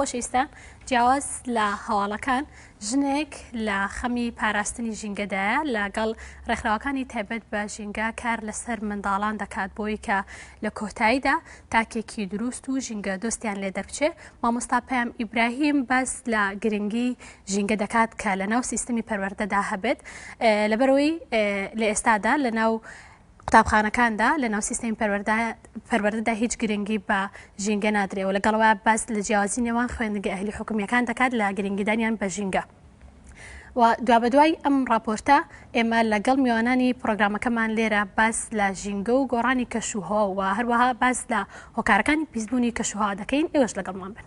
خۆشەویستان، جیاواز لە هەواڵەکان، ژنێک لە خەمی پاراستنی ژینگەدایە، لەگەڵ ڕێکخراوەکانی تایبەت بە ژینگە کار لەسەر منداڵان دەکات بۆی کە لە کۆتاییدا تاکێکی دروست و ژینگەدۆستیان لێ دەربچێ. مامۆستا پەیام ئیبراهیم باس لە گرنگی ژینگە دەکات کە لەناو سیستمی پەروەردەدا هەبێت، لەبەرئەوەی لە ئێستادا لەناو قوتابخانەکاندا لەناو سیستەمی پەروەردەدا هیچ گرنگی بە ژینگە نادرێ و لەگەڵ ئەوەیا باس لە جیاوازی نێوان خوێندنگە ئەهلی حکومییەکان دەکات لە گرنگیدانیان بە ژینگە و دوابەدوای ئەم ڕاپۆرتە ئێمە لەگەڵ میوانانی پرۆگرامەکەمان لێرە باس لە ژینگە و گۆڕانی کەشوهەوا و هەروەها باس لە هۆکارەکانی پیسبوونی کەشوهەوا دەکەین ئێوەش لەگەڵمان بن.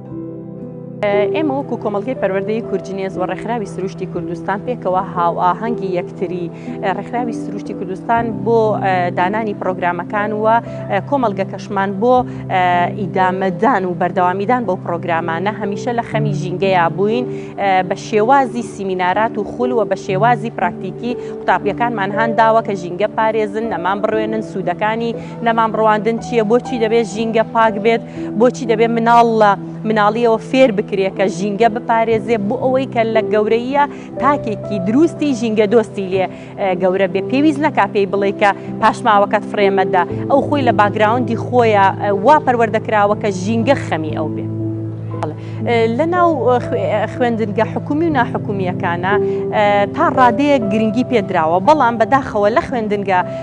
ئێمە وەکو کۆمەلگەی پەروەردەی کورجنێز و ڕێکخراوی سروشتی کوردستان پێکەوە هاوئاهەنگی یەکتری ڕێکخراوی سروشتی کوردستان بۆ دانانی پرۆگرامەکان و کۆمەلگە کەشمان بۆ ئیدامەدان و بەردەوامیدان بۆ پرۆگرامانە هەمیشە لە خەمی ژینگەیە بووین بە شێوازی سیمینارات و خول و بە شێوازی پراکتیکی قوتابیەکانمان هانداوە کە ژینگە پارێزن نەمان بڕوێنن سوودەکانی نەمام ڕواندن چییە؟ بۆچی دەبێت ژینگە پاک بێت؟ بۆچی دەبێت مناڵ لە مناڵیەوە فێر بکرێت کە ژینگە بپارێزێ بۆ ئەوەی کە لە گەورەیە تاکێکی دروستی ژینگە دۆستی لێ گەورە بێ پێویست نەکا پێی بڵێ کە پاشماوەکەت فرێمەدە ئەو خۆی لە باگراوندی خۆیە وا پەروەردەکراوە کە ژینگە خەمی ئەو بێت. لە ناو خوێندنگە حکومی و ناحکومیەکانە تا ڕادەیەک گرنگی پێدراوە بەڵام بەداخەوە لە خوێندنگە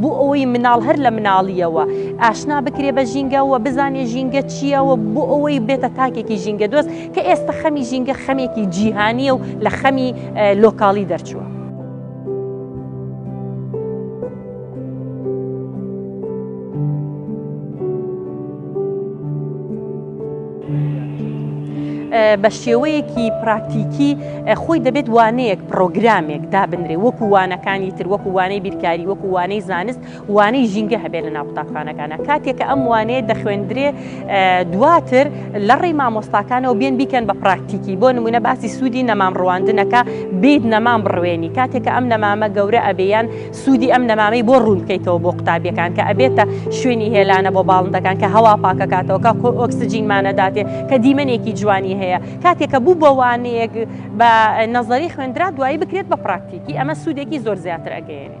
بۆ ئەوەی مناڵ هەر لە مناڵییەوە ئاشنا بکرێ بە ژینگە و بزانێ ژینگە چییە و بۆ ئەوەی بێتە تاکێکی ژینگە دۆست کە ئێستا خەمی ژینگە خەمێکی جیهانیە و لە خەمی لۆکاڵی دەرچووە. بە شێوەیەکی پراکتیکی خۆی دەبێت وانەیەک پرۆگرامێک دابنرێ وەکو وانەکانی تر وەکو وانەی بیرکاری وەکو وانەی زانست وانەی ژینگە هەبێت لە ناو قوتابخانەکانە کاتێکە ئەم وانەیە دەخوێندرێ دواتر لە ڕێی مامۆستاکانەوە بێن بیکەن بە پراکتیکی بۆ نمونە باسی سوودی نەمام ڕواندنەکە بیت نەمام بڕوێنی کاتێکە ئەم نەمامە گەورە ئەبیان سوودی ئەم نەمامەی بۆ ڕوون بکەیتەوە بۆ قوتابیەکان کە ئەبێتە شوێنی هێلانە بۆ باڵندەکان کە هەوا پاکەکاتەوە کە خۆ ئۆکسسجینمانەداتێ کە دیمەنێکی جوانی هەیە کاتێک کە بوو بە وانەیەک بە نەزەری خوێندرا دوایی بکرێت بە پراکتیکی ئەمە سوودێکی زۆر زیاتر ئەگەیێنێ.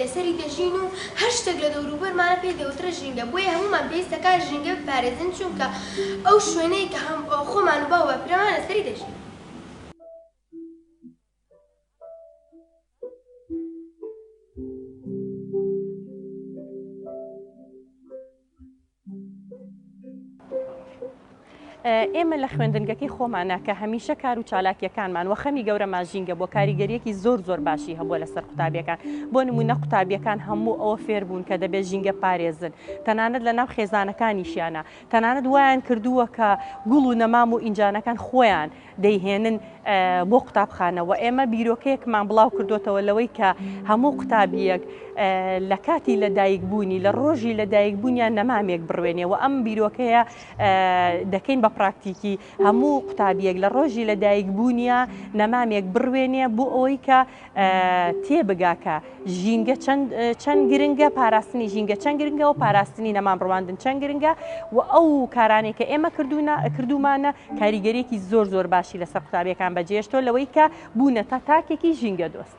لەسەری دەژین و هەر شتێک لە دەوروبەرمانە پێی دەوترێت ژینگە، بۆیە هەموومان پێویستە کە ژینگە بپارێزین، چونکە ئەو شوێنەیە کە خۆمان و باو و باپیرەمان لەسەری دەژین. ئێمە لە خوێندنگەکەی خۆمانە کە هەمیشە کار و چالاکیەکانمان وە خەمی گەورەمان ژینگە بۆ کاریگەریەکی زۆر زۆر باشی هەبووە لەسەر قوتابیەکان بۆ نمونە قوتابیەکان هەموو ئەوە فێربوون کە دەبێت ژینگە پارێزن تەنانەت لە ناو خێزانەکانیشیانە تەنانەت وایان کردووە کە گوڵ و نەمام و ئینجانەکان خۆیان دەیهێنن بۆ قوتابخانە و ئێمە بیرۆکەیەکمان بڵاو کردوتەوە لەوەی کە هەموو قوتابیەک لە کاتی لە دایکبوونی لە ڕۆژی لە دایکبوونیان نەمامێک بڕوێنێ و ئەم بیرۆکەیە دەکەین بە پراکتیکی هەموو قوتابیەک لە ڕۆژی لە دایکبوونیە نەمامێک بڕوێنێ بۆ ئەوەی کە تێبگا کە ژینگە چەند گرنگە پاراستنی ژینگە چەند گرنگە و پاراستنی نەمان ڕواندن چەند گرنگە و ئەو کارانێک کە ئێمە کردوونە کردومانە کاریگەرێکی زۆر زۆر باشی لەسەر قوتابیەکان بەجێشتۆ لەوەی کە بوونە تا تاکێکی ژینگە دۆست.